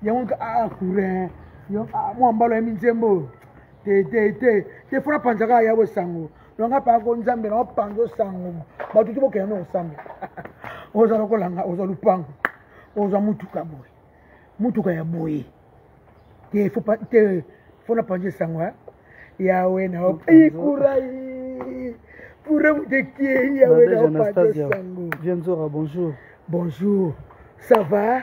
yango nka aa ah, kurin ah, mwa mbalo ya minzembo oyo te te te te fona panza kaka ya bosango longa paka ko nzambe nao panza osango bato te bokenda na osango oza lokolanga oza lupango oza motuka boye motuka ya boye te te fona panza esango eh? yawe nao ikurai pure motekie yawe nao panza esango vienzora bonjour bonjour ça va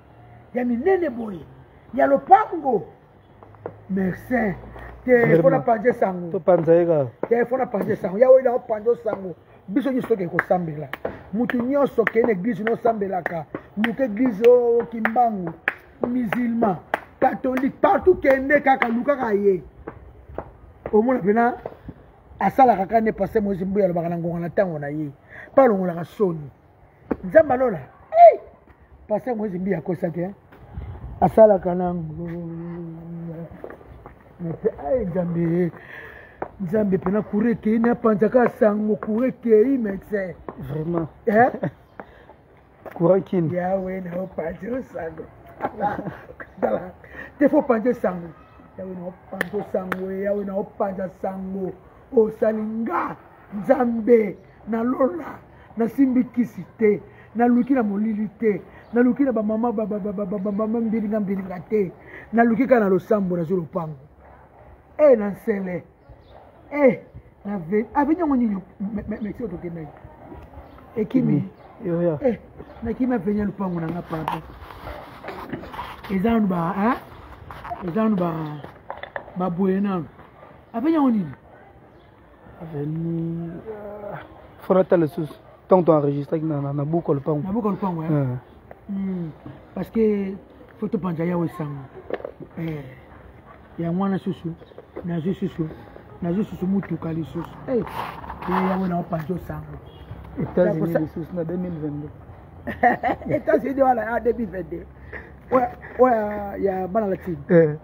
ya minene boye ya lopango merci te fona panze sango topanza ye kaka te fona panze sango ya oyo naopanza osango biso nyonso tokei kosambela moto nyonso okei na eglize nosambelaka luka eglize oyo oh, kimbangu musulman catholique partout kende kaka lukaka ye omona mpena asalaka kaka nde paster moise mbuya alobaka na ngonga na ntango na ye mpe alongolaka soni nzambe alola paster moise mbiya akosaki eh? asalaka nango ai nzambe nzambe mpena kura ekei napanzaka sango kura ekei mexe vraiment eh? kura kini yawe naopanzi osango te fo panzi osango yawe naopanzi osango yawe naopanza sango osali nga nzambe na lola nasimbi kisi te naluki na molili te naluki na bamama bamama mbilinga mbilinga te naluki kaka na losambo nazwi lopango e na nsele e na avi niongo nini mexique tokendaki ekimi eh, nakimi aveni ya lopango na nga papa eza nanu ba eza nanu baboye nanu aveni yango nini avenue euh, faut nata lisusu ntango toenregistraki na buku ya lopango na buku ya lopango eh? eh. hmm. parce que faut topanza yawe sango eh. yango wana susu nazwi susu nazwi susu motuka lisusu yango naopanza osango etats-unis lisusu na 2022 etats-unis wana ya 2022 oyo ya bana latine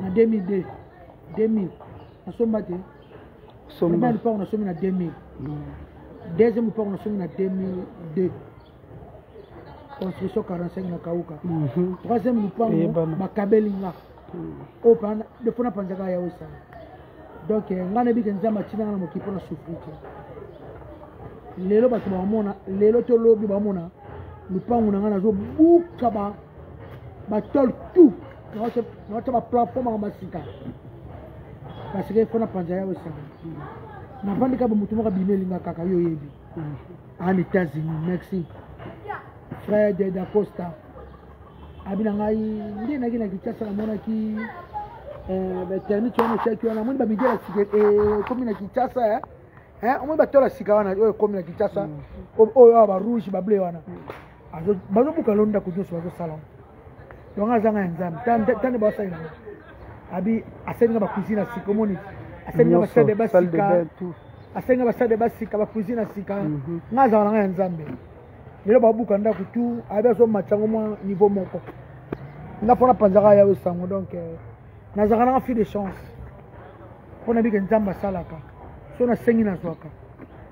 na 2002 2000 nasomba te somba lupango nasomi na 2000 mm. deuxième lupango nasomi na 2002 construction 45 na kauka mhm. troisième lupango bakabeli nga mm. oyo oh, defo napanzaka ya osala donc eh, ngai nayebike nzambe atina nga na mokili mpo na souffri te lelo bato bamona lelo to lobi bamona lupangu na ngai nazobuka batole tout nawatia baplafo maka masika parce que mpo na panza yawe esanga navandi kaka bamoto moko abimi elinga kaka yo oyebi en ah, états-unis merci fred dacosta abi na ngai nde naki na kinshasa namonaki eh, batermite wana etiaki wana amoni bamidi ya sika ekomi eh, na kinshasa eh. Eh, omoni batola sika wana oyo ekomi na kinshasa mm. oyo awa barouge bable wana mm. bazobuka lo ndako nyonso bazosala ngo yango azanga ya nzambe tande basali nango abi asali nga bacuisine ya sika omoni asali nga basali basika asali nga basali basika bacuisine ya sika mhm. nga azanga nanga ya nzambe lelo babuka ndako tu abi azomatisa yango mwa niveau moko nga mpo napanzaka yawe sango donc euh, nazalaka nanga fille de chance mpo nabike nzambe asalaka so nasengi nazwaka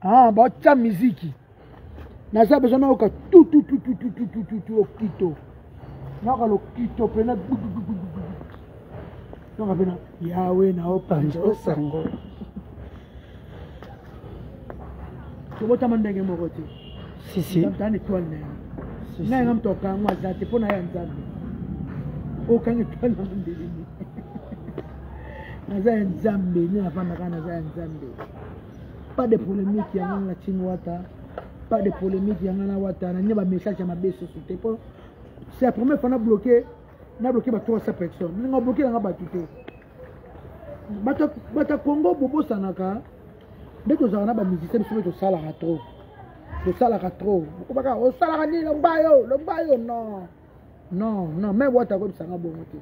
ah batya miziki naza besoin nayoka tutututututututu lokito nayoka lokito mpena nayoka mpena yawe naopanza osango tobotama ndenge moko te sisiana etoile na yango ngai nga moto okango aza te mpo na ya nzambe okanga etoile na mondelini naza ya nzambe nini afandaka naza ya nzambe pas de polémique ya ngana tin wata pas de polémique ya ngana wata na nde ba message ya mabe soso te po c'est la première fois na bloqué na bloqué ba 300 personnes ndenge obloqué nanga bato te bata congo bobosanaka nde tozalaka na bamusicien biso mpe tosalaka trop tosalaka trop okobaka osalaka nini lomba yo lomba yo non non non me wata akoyebisa nga bongo te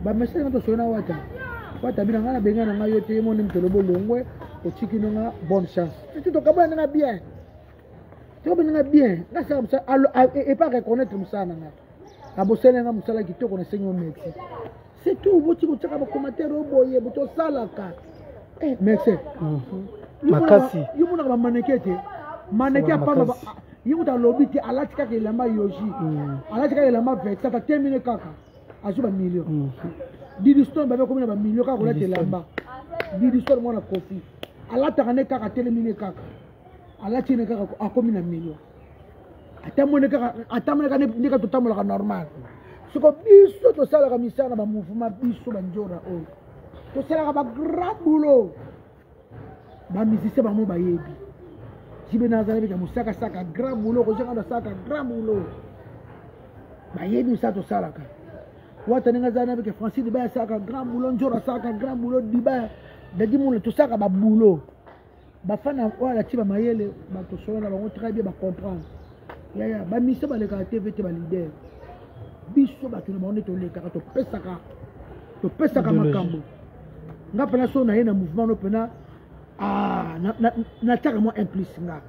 bamesage nga tosoli na wata wata bina nga na benga na nga yo te yemoni mtolo bolongwe otiki no nga bonne chance titi tokabona ndanga bien tokabona ndanga bien nasala mosala epa reconnaitre mosala na nga abosali nga mosala kitoko nasengi ometi c'est tout boti kotyaka bacommentaire oyo boye boto osalaka eh, mese mhm. makasi yo monaka bamaneke te maneke apamba ye kuta alobi te alati kaka elamba yoji mm. alati kaka elamba vexata temine kaka azwi bamillion mm. didistone babe komi na bamillion kaka kolata elamba didistone mwana kofi alataka ne kaka telemi ne kaka alati ene kaka akomi na million atamone kaka atamone kaka nde kaka totambolaka normal soko biso tosalaka misala na bamouvement biso banjora oyo tosalaka bagrand boulot bamusicien bango bayebi jibe nazala bika mosaka saka grand boulot kozanga nasaka grand boulot bayebi misala tosalaka wata ndenge azala nabike francis dibaya asaka grand boulot njora asaka grand boulot dibaya dadi mona tosaka baboulot bafana oyo alati bamayele bakosolola na bango très bien bacomprendre yaya bamisa balekaka tv te balider biso bato na bango nde tolekaka topesaka topesaka makambo nga mpena so naye na mouvement no mpena ah, natiaka mwa implice nga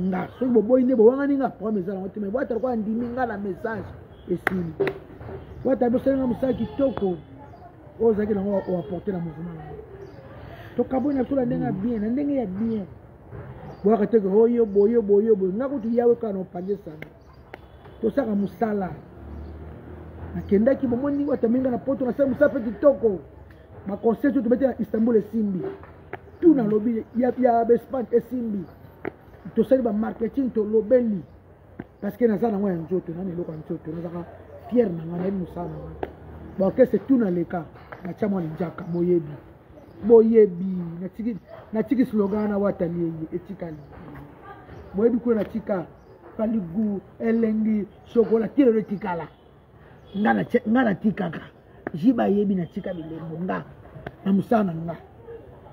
nga soki boboyi nde bowangani nga problème eza nango te mai bwata lokola ndimi nga na message esili bwata bosali nga mosala kitoko oyo ozalaki nango oaporte na mouvement yango tokaboi na biso na ndenge ya bien na ndenge ya bien boyaka te ke oyo boyo boyo boyo nga kutu yawe kaka na opange sango tosaka mosala nakendaki bomoni watami nga na poto nasali mosala mpe kitoko baconseil to tobeti na istanbul esimbi tu nalobi ya bespan esimbi tosali bamarketing tolobeli parce que naza nango ya nzoto nani eloko ya nzoto nazaka fiere na ngai nayebi mosala na ngai baorchestre tout na leka natya mwa linjaka boyebi boyebi natiki slogan na watali eye etikali boyebi kuna natika paligu elengi shokola kilelo etikala nga natikaka jiba ayebi natika bilembo nga na mosala na nga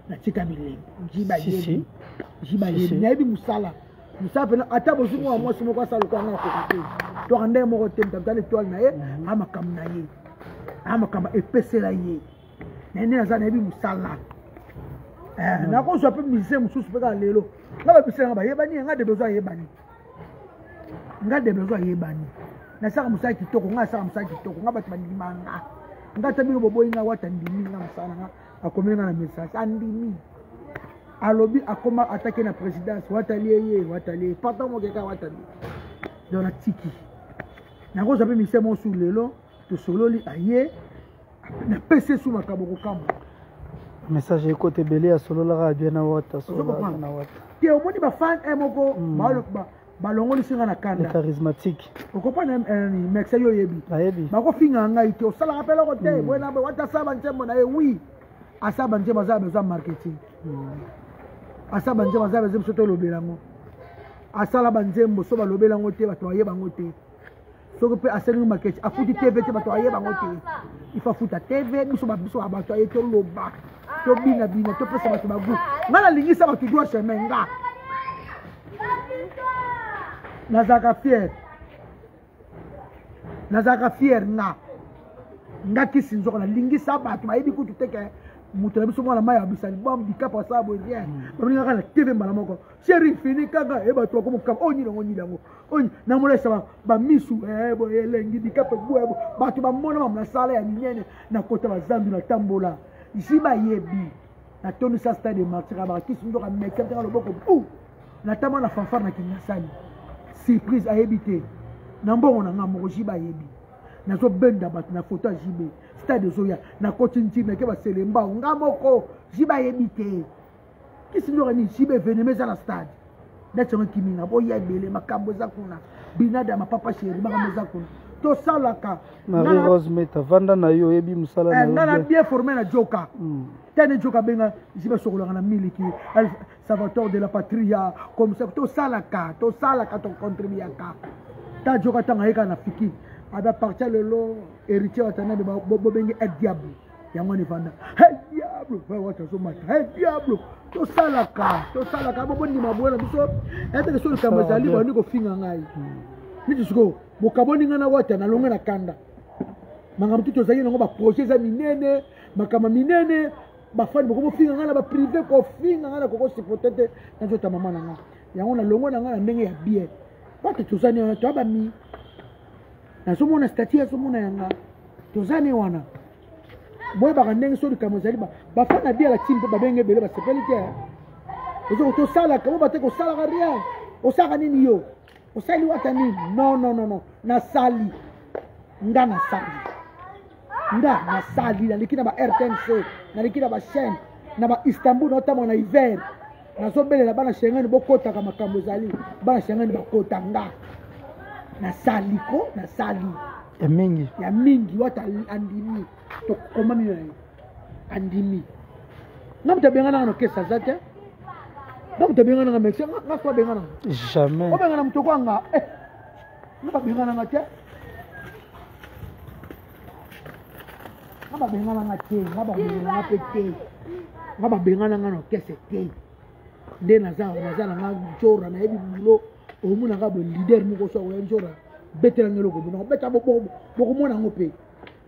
natika bilembo jiba ayebi jiba ayebi nayebi mosala mosala mpena ata bozwi mwana mwasi moko asala lokola nga nakoki te toka ndenge moko te mtabita na etoile na ye mhm. a makambo na ye a makambo epesela ye naye nde naza nayebi mosala eh, mhm. nakozwa mpe musicien mosusu mpe kaka lelo nga babisela nga bayebani ye nga de besoin ayebani nga deblozo ayebani nasaka mosala kitoko nga nasaka mosala kitoko nga bato bandima nga nga ata bino boboyi nga wata ndimi nga mosala na nga akomeli nga na message andimi alobi akoma atake na présidence watali eye watali eye pata mokeka watali donc natiki nakozwa mpe mise mosu lelo tosololi aye napesi esu makambo kokamwa message ekote ebele ya sololaka bien na wata na wata te omoni bafan e eh, moko hmm. balongolisi nga na kanda charismatique okopana eh, mexe yo oyebi bayebi bakofinga ngai te osalaka mpe eloko te hmm. boye na boye wata asaba nzembo na ye wi asaba nzembo aza besoin marketing hmm. asala banzembo aza besoin biso tolobela yango asala banzembo so balobela yango te bato baye bango te soki mpe asengi makechi afuti tv te bato aye bango te ifa afuta tv biso babiso ya bato aye toloba tobinabina topesa bato bagu ngai nalingisa bato dua chemin nga nazalaka fiere nazalaka fiere nga nga kisi nzoko nalingisa bato bayebi kutu teke moto na biso mwana mai abisa libom bikapo asala boye bien mm. babengaka na tv mbala moko sheri fini kaka ye bato bakomokama oyo oh, nini yango nini yango oyo namonaisama bamisu eh, boye elengi bikape boye bato bamona mamu na sala ya minene nakota bazambi natambola ji bayebi natondisa stade de martira bakisi nzoka meke ntaka loboko bu natama na fanfare na kingasani surprise ayebi te na mbongo na ngai moko ji bayebi nazobenda bato na foto ya jibe stade ezoya nakoti ntimeke baselembao ngai moko ji bayebi te kisi ndoka nini siba evenema eza na stade dati yango ekimi nga boya ebele makambo eza kuna binada mapapa sheri makambo eza kuna tosalaka marie rose meta vanda na yo oyebi mosala eh, nga na bien forme na joka hmm. tene joka abenga isi basokolaka na miliki salvator de la patria comme ça tosalaka tosalaka tocontribuaka ta joka ntango ayekaka na fiki abapartia lelo héritier watanabe bobenge el diable yango wana efanda he diablo vawata azomata he diablo tosalaka tosalaka bobondima boye na biso eteke so likambo ezali bandi kofinga ngai niti sikoyo bokaboni ngai na wata nalonge na kanda makambo tutu ozalaki nango baprojet eza minene makambo minene bafani boko bofinga ngai na baprive kofinga ngai na kokosipote te nazota mama na ngai yango nalongo na ngai na ndenge ya bien pate tozani wana toya bami nazomona stati azomona yanga toza ne wana boyebaka ndenge so likambo ezali bafani na biala ti mpe babenge ebele basepeli te ozo tosalaka boba te kosalaka rien osalaka nini yo osali wata nini non non non non nasali nga nasali nga nasali naleki na ba rtnc naleki na bachaine na ba istanbul naotambola na hiver nazobelela bana shengani bokotaka makambo ezali bana shengani bakota nga nasali ko nasali ya mingi ya mingi wata andimi tokomami na ye andimi nga moto abenganaka na kesi aza te nga moto abenganaka mesi nga so abenganaka jamais obengana moto kwanga eh. nga babengananga te nga babengananga te nga babengananga mpe te nga babengananga na orkestre te nde naza naza nanga njora nayebi bulo omonaka bo leader moko so akoya njora betelanga eloko bono beta bokomona yango mpe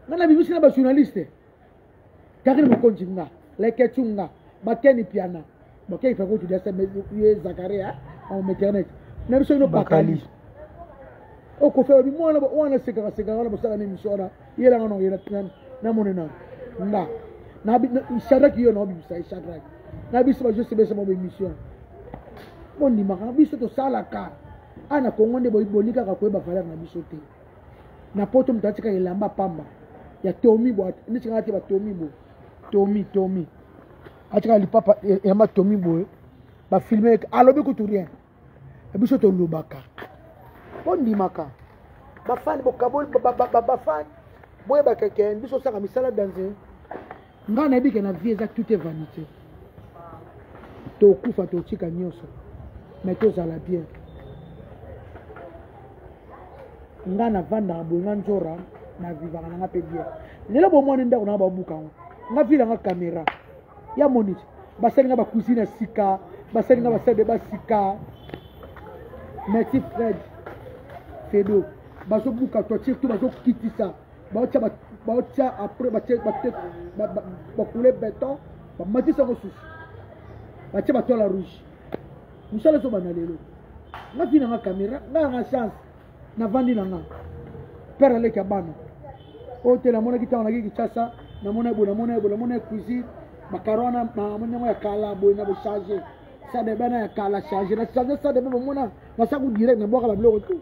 nga na bimisi na bajournaliste Karine Mokonji nga, Leketchou nga, Bakeni Piana, Bakeni Piana kutu dese ye Zakaria en maternité. Na biso ino Bakali. Okofa obi mwana wana sekaka sekaka wana bosala na emission wana yela nga nongo yela na mone na nga. Na Shadrach yo na obimisa ye Shadrach. Na biso ba juste besa mo emission. Bondimaka biso tosalaka. Ana Kongo nde bolikaka koyeba valeur na biso te. na poto moto atika elamba pamba ya tomi bo neti kaka te ba tomi bo tomi tomi atika lipapa elamba e, tomi boye bafilme ete alobi kutu rien e biso tolobaka bondimaka bafani bokaboli bafani boyebaka ke biso osaka misala danze ngai nayebi ke na vie eza toute vanité tokufa totika nyonso mais tozala bien ngai navandaka boye nga nzora navivaka na nga mpe bien lelo bomoni ndako nanga babuka yango nga vile yanga kamera ya moni basali nga bakuisine ya sika basali nga basali basika merci fred fedo bazobuka toiture to bazokitisa baotya baotya après batye batye bakule beton bamatisa yango susu batye batola rouge mosala ezobanda lelo nga vi na nga caméra nga yanga chance navandi na nga père aleki ya bana oyo te namonaki ntango naki kinshasa namona boye namona ye boye namona ye cuisine bakaro wana namoni yango ya kala boye na bochange sadebe na ya kala change na change sadebe bomona nasaku direct nabwaka babiloko tout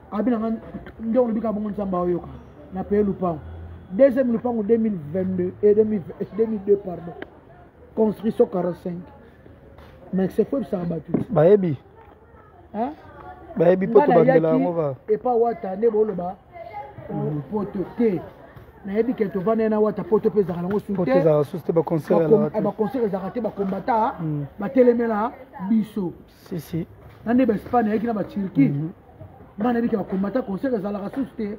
abi na nga nde olobi ka bongo nzambe aoyoka na paye lupango deuxième lupango 2022 et 2002 pardon construction 45 mais c'est faut ebisaka bato ti bayebi bayebi mpo tobandela yango ba epa wata nde boloba mm. poto te nayebi ke tovanda na wata poto mpe ezalaka nango sutebaconcert ezalaka te bakombata mm. batelemela biso si si na nde baespagne ayaki na baturquie mhm. ngai nayebi ke bakombata concert ezalaka susu te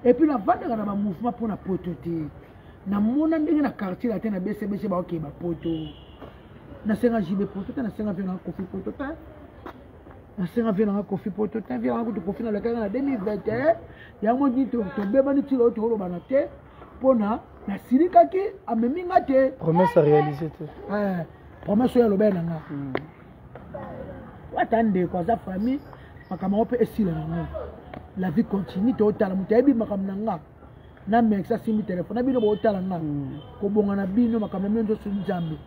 epuis navandaka na bamouvement mpo na poto te namona ndenge na quartier latin na besebese baokee bapoto nasenga jibe poto te nasenga vie nanga kofi poto te nasenga vie nanga kofi poto te vie nanga kutu kofi nalekaka na 2021 yango nini tobebani ntina oyo tokolobana te mpo na nasilikaki amemi nga te promesse réalise te eh, promesse oyo alobaki na nga hmm. ata ndeko aza famille makambo yango mpe esila yango la vie continue totala moto ayebi makambo na nga na mex asimbi telefone na bino botala nga hmm. kobonga na bino makambo ya bino nzoso nzambe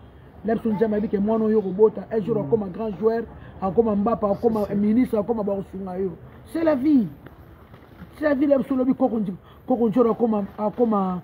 na biso nzambe ayebi ke mwana oyo okobota un jour hmm. akoma grand joueur akoma mbapa akoma ministre akoma bakosunga yo c'est la vie c'est la vie na biso lobi koko njoro akoma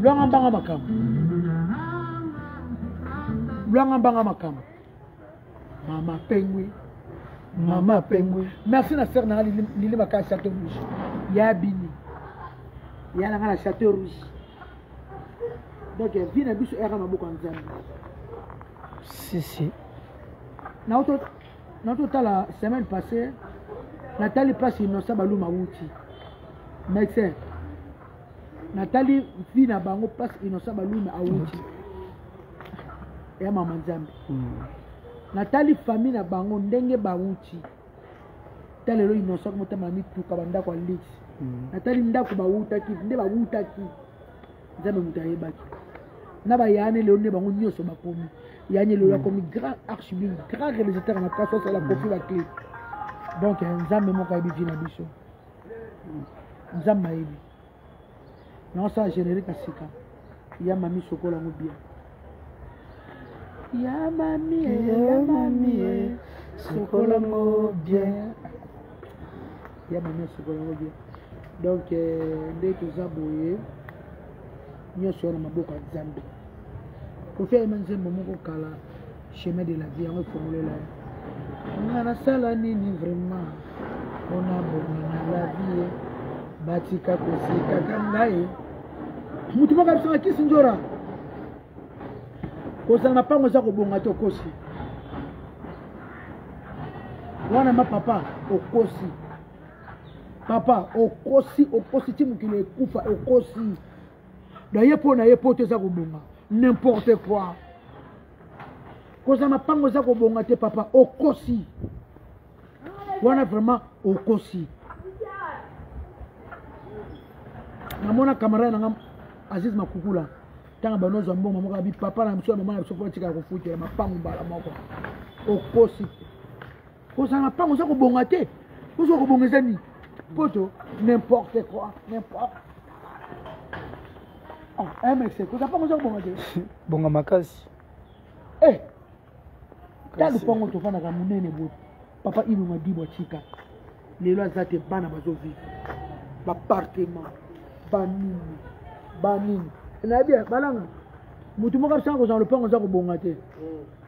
lwanga mbanga makambo lwanga mbanga makambo mama pengwi mama pengwi merci na sere nanga lili makaya chateau rouge ya bini ya nanga na chateau rouge donc vie na biso eyaka maboko ya nzambe sisi naototala semaine passée natali mpasi inosa baluma wuti médecin natali vie na bango place innocent baluna awuti ya mama nzambe hmm. natali famille na bango ndenge bawuti ta lelo innocent motama mituka bandako ya lix hmm. natali ndako bawutaki nde bawutaki nzambe moto ayebaki na bayane lelo nde bango nyonso bakomi yanye lelo hmm. akomi grand archibin grand réalisateur na place asala kofi bakle donc nzambe moko ayebi vi na biso nzambe ayebi naosala générique ya sika ya mami sokola yango bien ya mami ya mami sokola yango bien ya mami sokola yango bien donc euh, nde toza boye nyonso wana maboko ya nzambe kofi ayema nzembo moko kala chemin de la vie yango efongolela ye nga nasala nini vraiment mpona bonga na la vie batika kosekaka ngai motu moko abisaka kisi njora kozala na mpango eza kobonga te okosi wana ma papa okosi papa okosi okosi ti mokili ekufa okosi naye mpo na ye poto eza kobonga n'importe quoi kozala mapango eza kobonga te papa okosi wana vraiment okosi namona camarade na nga aziz makukula ntango bano ozwa mbongo moko abi papa na biso ya mama na biso mpo atika ya kofutela mapango mbala moko okosi kozala na mpango oza kobonga te oza kobonga eza nini poto n'importe quoi n'importe ah, mx kozala mpango oza kobonga te bonga makasi eh, ta lupango tofandaka monene boye papa ilunga dibwa tika lelo aza te bana bazovive bapartement banini banini nayebi balanga motu moko asanga kozala lopango oza kobonga te mm.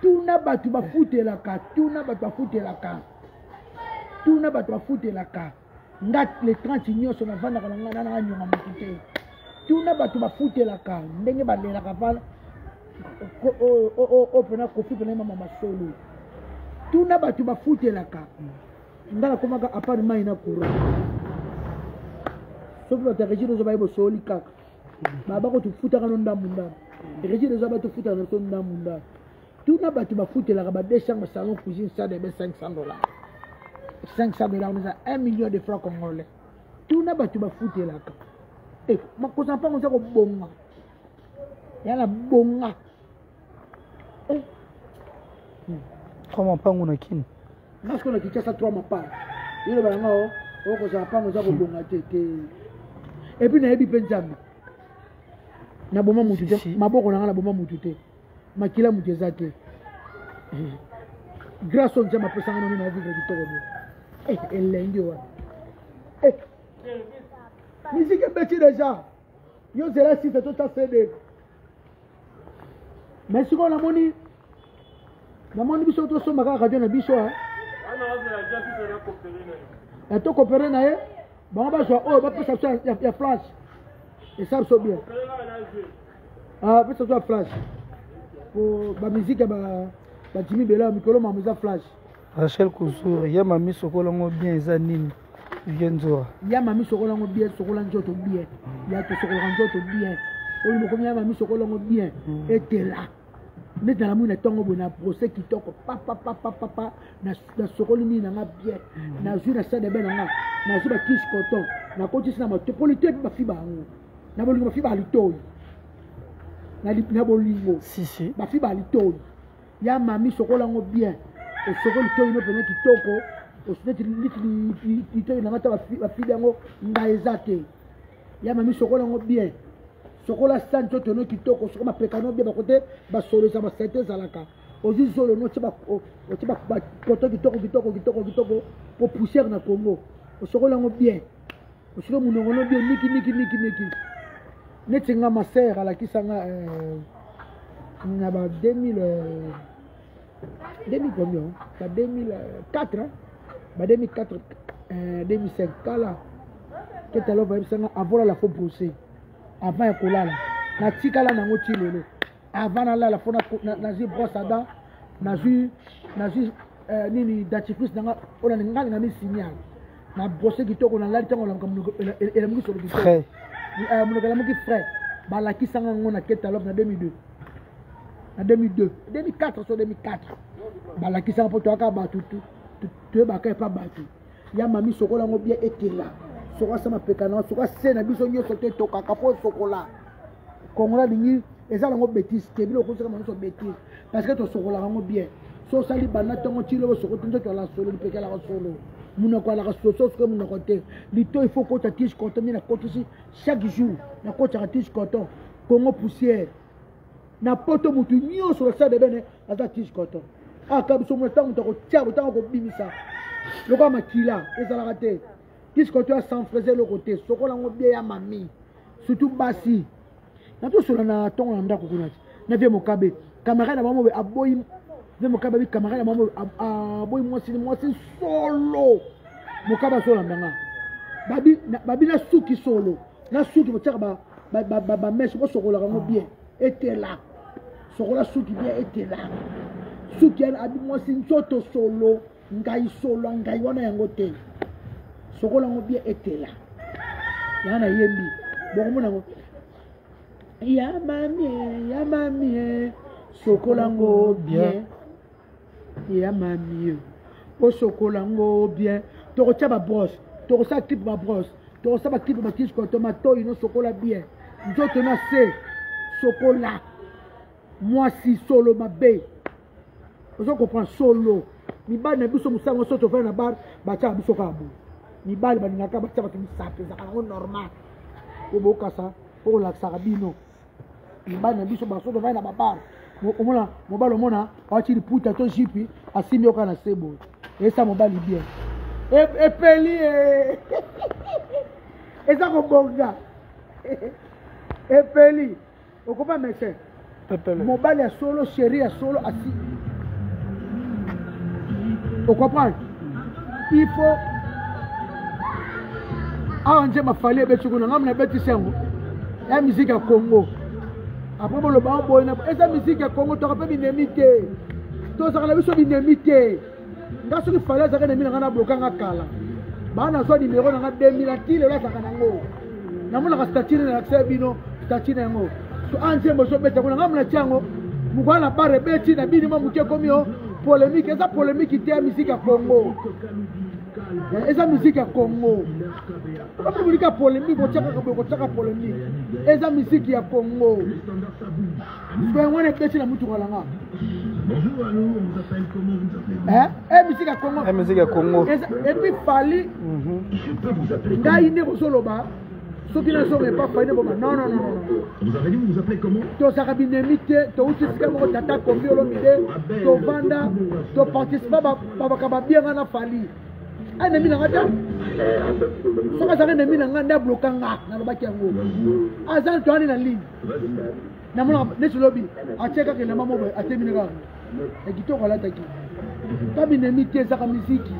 tuna bato bafutelaka tuna bato bafutelaka tuna bato bafutelaka nga le 30 nyonso navandaka na nga na nanga nyonga moto te tuna bato bafutelaka ndenge balelaka vala oyo mpena kofi mpena mama masolo tuna bato bafutelaka nga nakomaka apart mai na courant soki bato ya regine ozo baye bosoli kaka baba ko tofutaka no ndambu ndambu regime eza bato ofutaka na biso ndambu ndambu tuna bato bafutelaka ba 2 chambre salon cuisine sade ebe 500 dollars 500 dollars eza 1 million de franc congolais tuna bato bafutelaka eh, makosa mpango eza kobonga yana bonga eh. hmm. trois mapangu na kini nga sikoyo na kinshasa trois mapangu yoloba yanga o okozala mpango eza kobonga te te epuis nayebi mpe nzambe naboma motu te maboko na nga naboma motu te makila motu eza te eh. grâce oyo nzambe apesanga noni na vivre kitoko bo eh, elengi wana eh. miziki ebeti deja yo zela site to ta cd mais sikoyo namoni namoni biso tosomba kaka radio na biso eh. ya to kopere na ye bango bazwa oyo bapesa biso ya flash esa biso bien ah, pesa biso ya flash po bamiziki ya bajimi bela mikolo mamo eza flash rachel kuzur ye mamiso kolongo bien eza nini ye nzora ya mami sokola yango bien sokola nzoto bien ya tosokolaka nzoto bien oyo mokomi ya mami sokola yango bien mm. etela neti na namoni na ntongo boye na brose kitoko papapapapapa nasokoli nini na nga bien mm. nazwi na sadebe na nga nazwi bakisi coton nakotisi na mato mpo lito epi bafiba yango na bolingo bafiba alitoi na bolingo bafiba alitoi ya mami sokola yango bien osokoli toyi no mpenza kitoko neti litoyi na ngai ta bafili yango ngai eza te ya mami sokola yango bien sokola sani to tono kitoko soki mapekano bien bakote basolo eza basete ezalaka ozwi zolo no otye bapoto kitoko kitoko kitoko kitoko mpo poussière na congo osokola yango bien osika monoko no bien niki niki niki niki neti nga ma sœur alakisa nga euh, na ba 2000 euh, 2000 combien ba 2004 hein? ba 2004 euh, 2005 kala ketalo bayebisa nga avant lala fo brose avant ya kolala natikala nango ti lelo avant nalala fo nazwi brosse à dent nazwi nazwi euh, nini dentifrice nanga oyo nalinga nanga misignale na brose kitoko nalali ntango olamuka monoko elamuki solo kitoko eh, monoko elamuki frais balakisanga yango na ketalope na 2002 na 2002 2004 so 2004 balakisanga mpo toyaka bato toyebaka epa bato ya mami sokola yango bia ekela sokola sa mapeka na sokola se na biso nyonso te tokaka mpo sokola kongola alingi eza nango betise te bino okosaka manso betise parce que tosokolaka yango bien so osali banda ntango ti lelo soko te nzoto ala solo lipeke alaka solo monoko alaka soso soki monoko te lito il faut kota tige coton nde nakotisi chaque jour nakotaka tige coton congo poussière na poto motu nyonso na sade bene aza tige coton aka ah, biso mona ntango moto akotia botanga okobimisa lokola makila ezalaka te tige coton ya sans fraise eloko te sokola yango bie ya mami surtout basi natosola na ntongo na ndako kuna ti na vie mokabe camarade na bango aboyi vie mokabe abi camarade na bango aboyi mwasi ni mwasi solo mokabe asolanda nga babi nasuki solo nasuki botiaka bameshe bosokolaka yango bien etela sokola suki bien etela suki abi mwasi nzoto solo ngai solo ya ngai wana yango te sokola yango bie etela yaa nayembi bokomona yango ya mamie ya mamie sokola yango bien ya mamie osokola yango bien tokotya babrose tokosala clipe babrose tokosala baclipe bakisikoto matoi nosokola bien nzoto na se sokola mwasi solo mabe ozo comprendre solo mibali na biso mosango so tofai na bar batyaka biso kaka boye mibali balingaka batya bato misato ezaka yango normal po bokasa po kolakisaka bino mibali na biso baso tofai na babar omona mobali omona awati liputa to jipi asimbi yo kaka na se boye esa mobali bien e, epeli e. eza kobonga epeli okoba mese mobali ya solo sheri ya solo asi okomprendre il faut awa nzembo afali ebeti kuna ngai mna ebetisi yango ya miziki ya congo apres boloba oboyina eza miziki ya congo toka mpe binemi te tozaka na biso binemi te nga soki fale azalaka na mina nga na bloka nga kala baa nazwa nimero na nga 2000 ati lelo azalaka nango namonaka statine na lakisa bino statine yango so a ah, nzembo ezobeta kuna nga mnati yango mokwana na bare ebeti na bini mwa moke ekomi o polémique eza polémique te ya miziki ya congo eh, eza miziki ya congo okomi bolika polémique otiaka boye kotiaka polémique eza miziki ya congo Mbe wana epesi na mutuka na nga. Eh, eh musique ya Congo. Eh musique ya Congo. Et puis Fally. Mhm. Ngai nde kozoloba. soki nazonga epa faine boma non non non tozalaka binemi te touti esika moko tata kombi olomide tovanda toparticipa babaka babianga na fali anemi na nga te soki azalaki nemi na nga nde abloka nga nalobaki yango aza toani na ligne namona neti lobi atie kaka elamba moko atemini kaka ya kitoko alataki kaminemi te ezaka miziki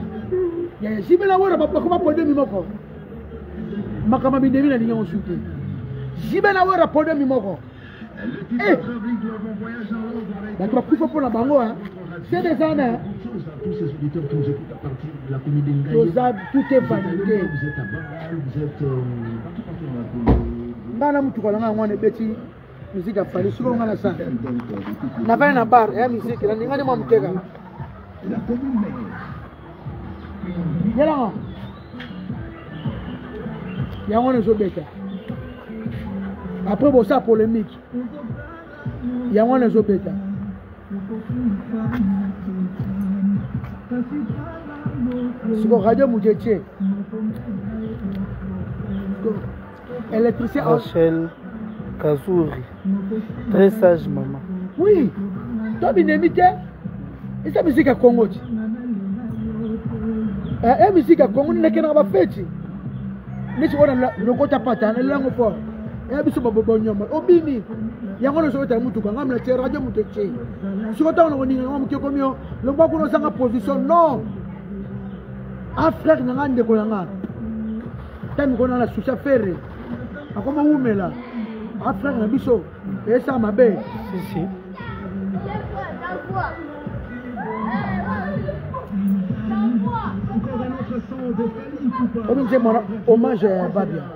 ya zibela wera bakoma podemi moko makambo minemi nalingi yango su te zibela wera podemi moko eh! bato bakufa mpo na bango sede eza na toza tout est vanité ngai na motuka na ngai yango wana ebeti miziki ya fali sikoyo ngai na sa navani na bar ya miziki na ningani mwa mokeka yelanga yango wana ezobeta après bosa polémique yango wana ezobeta siko radio moto etie électricien rachel kazuri très sage mama oui to binemi te eza miziki ya kongo ti e miziki ya kongo ninakenaka bafeti neti oyo lokota pata nalelango fort eya biso babobonyama obini yango na sokota ya motuka ngai mlatie radio moto etie soko ntango na koninga yango moke komi yo longwa kuna ozanga position non a ah, frère na ngai ndeko na ngai ta mikolo na na susa ferre akoma wumela a ah, frère na biso eyesa mabe omi nzembo hommage ya babia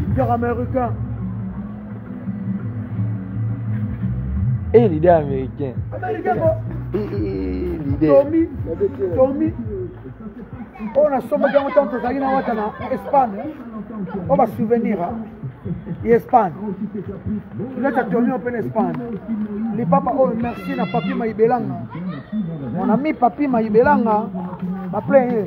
leader américain Eh, leader américain. Américain quoi Eh, eh, leader. Tommy, Tommy. oyo nasombaki yango ntango tozalaki na wata na espagne oyo basouvenir ya espagne tuleta tomio mpe na espagne lipapa oyo merci na papi maibelanga mon ami papi maibelanga baple ye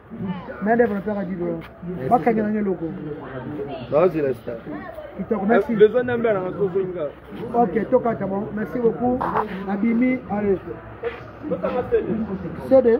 na develope ka dido bakenge nange eloko naozela sta kitoko merci besoin na mbela nanga tozoinga ok tokata bon merci beaucoup abimi allez sede